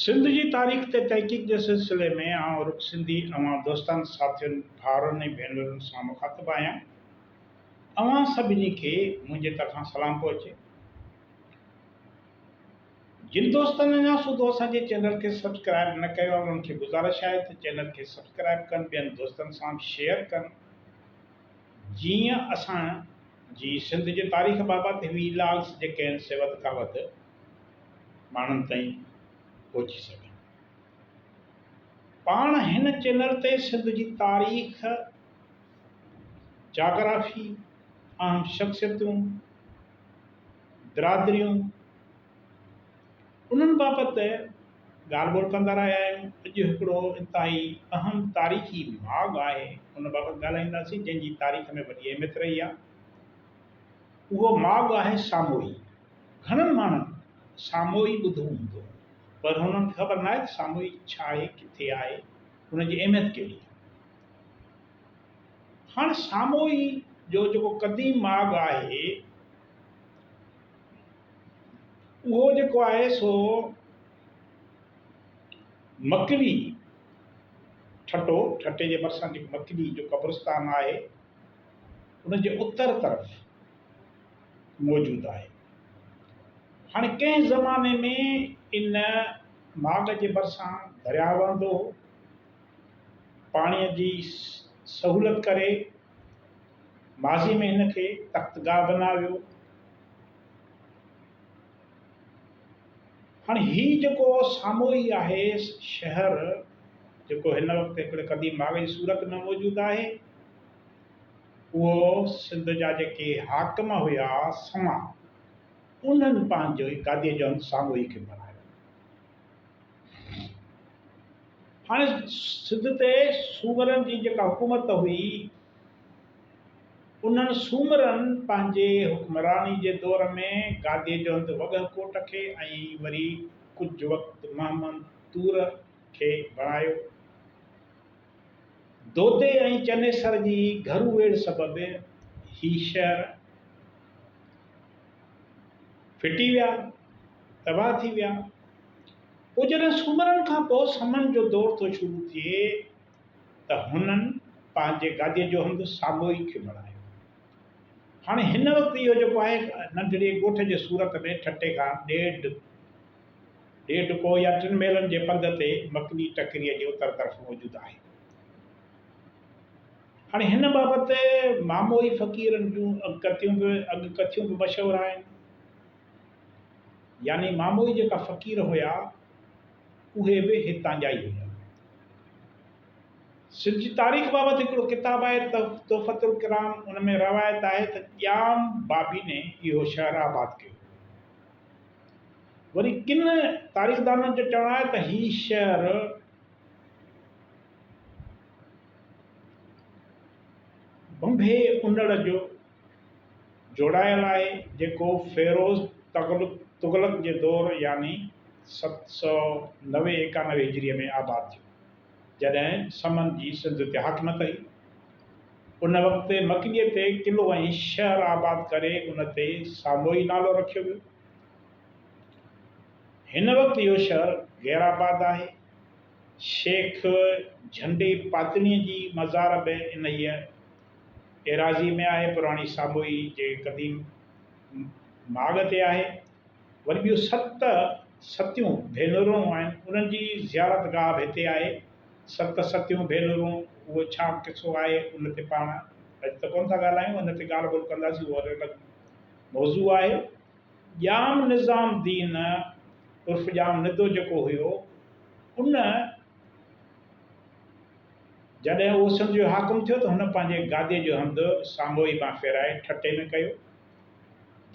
سنڌ جي تاريخ تي تحقيق جي سلسلي ۾ آئون رڳ سنڌي اوهان دوستن، ساٿين، ڀائرن ۽ ڀينرن سان مخاطب آهيان. اوهان سڀني کي منهنجي طرفان سلام پهچي. جن دوستن اڃا سوڌو اسان جي چينل کي سبسڪرائب نه ڪيو آهي انهن کي گذارش آهي ته چينل کي سبسڪرائب ڪن ٻين دوستن سان به شيئر ڪن جيئن اسان جي سنڌ جي تاريخ بابت وي لاگس جيڪي آهن سي وڌ کان وڌ ماڻهن تائين پهچي سگهن. پاڻ هن چينل تي سنڌ جي تاريخ، جاگرافي، اهم شخصيتون، برادريون انهن بابت ڳالهه ٻولهه ڪندا رهيا آهيون. اڄ هڪڙو انتهائي اهم تاريخي ماڳ آهي ان بابت ڳالهائينداسين جنهن جي تاريخ ۾ وڏي اهميت رهي آهي. اهو ماڳ آهي ساموئي. گهڻن ماڻهن ساموئي ٻڌو هوندو پر هنن کي خبر ناهي ته ساموئي ڇا آهي، ڪٿي آهي، ان جي اهميت ڪهڙي آهي. هاڻ ساموئي جو جيڪو قديم ماڳ آهي اهو جيڪو آهي سو مڪلي ٺٽو ٺٽي جي ڀرسان جيڪو مڪلي جو قبرستان آهي ان جي اتر طرف موجود آهي. هاڻي ڪنهن زماني ۾ ان ماڳ جي ڀرسان درياء وهندو هو، پاڻيء جي سهولت ڪري ماضي ۾ هن کي تخت گاهه بنايو ويو. هاڻي هي جيڪو سامهون ئي آهي شهر جيڪو هن وقت هڪڙي قديم ماڳ جي صورت ۾ موجود آهي. اهو سنڌ جا جيڪي حاڪم هيا سوان انهن پنهنجو ئي گاديء جو هنڌ ساڳيو ئي کي بڻايو هاڻي سنڌ تي سومرن جي جيڪا حڪومت هئي انهن سومرن پنهنجي حڪمراني جي دور ۾ گاديء جو هنڌ وڳهه ڪوٽ کي ۽ وري ڪجهه وقت مهمند طور کي بڻايو دودي ۽ چنيسر جي گهرو ويڙهه سبب هي شهر ڦٽي ويا، تباهه ٿي ويا. پوء جڏهن سومرن کان پوء سمن جو دور ٿو شروع ٿئي ته هنن پنهنجي گاديء جو هنڌ ساموئي کي بڻايو. هاڻي هن وقت اهو جيڪو آهي ننڍڙي ڳوٺ جي صورت ۾ ٺٽي کان ڏيڍ ڏيڍ ڪوهه يا ٽن ميلن جي پنڌ تي مڪني ٽڪريء جي اتر طرف موجود آهي. هاڻي هن بابت ماموئي فقيرن جون اڳڪٿيون به اڳڪٿيون به مشهور آهن. يعني ماموئي جيڪا فقير هيا، اهي به هتان جا ئي هيا. سنڌ جي تاريخ بابت هڪڙو ڪتاب آهي تحفة الڪرام، ان ۾ روايت آهي ته ڄام بابيني اهو شهر آباد ڪيو. وري ڪن تاريخدانن جو چوڻ آهي ته هي شهر بمبهي انڙ جو جوڙايل آهي جيڪو فيروز تغلق جي دور يعني ست سؤ نوي ايڪانوي هجري ۾ آباد ٿيو. جڏهن سمن جي سنڌ تي حاڪم ڪئي. ان وقت مڪليء تي قلعو ۽ شهر آباد ڪري ان تي ساموئي نالو رکيو ويو. هن وقت اهو شهر غير آباد آهي. شيخ جهنڊي پاتڻيء جي مزار به انهيء ايراضيء ۾ آهي. پراڻي ساموئي جي قديم ماڳ تي آهي. وري ٻيون ست ستيون ڀينرون آهن، انهن جي زيارت گاهه به هتي آهي. ست ستيون ڀينرون، اهو ڇا قصو آهي، ان تي پاڻ اڄ ته ڪونه ٿا ڳالهايون، ان تي ڳالهه ٻولهه ڪنداسين، اهو الڳ موضوع آهي. ڄام نظام الدين عرف ڄام ندو جيڪو هيو، ان جڏهن اهو سنڌ جو حاڪم ٿيو ته هن پنهنجي گاديء جو هنڌ سانگهوئي مان ڦيرائي ٺٽي ۾ ڪيو.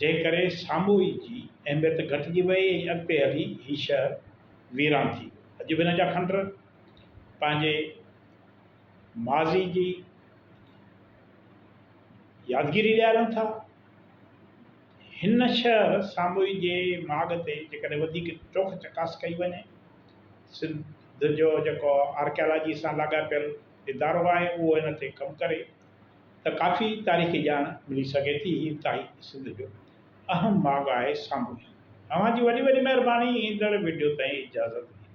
جنهن ڪري ساموئي جي اهميت گهٽجي وئي ۽ اڳتي هلي هي شهر ويران ٿي ويو. اڄ به هن جا کنڊر پنهنجي ماضي جي يادگيري ڏيارين ٿا. هن شهر ساموئي جي ماڳ تي جيڪڏهن وڌيڪ چوک چڪاس ڪئي وڃي، سنڌ جو جيڪو آرڪيالاجي سان لاڳاپيل ادارو آهي اهو هن تي ڪم ڪري. ته ڪافي تاريخي ڄاڻ ملي سگهي ٿي هي تاهي سنڌ جو اهم ماڳ آهي سامونڊ. اوهان جي وڏي وڏي مهرباني ايندڙ وڊيو تائين اجازت ڏيندو.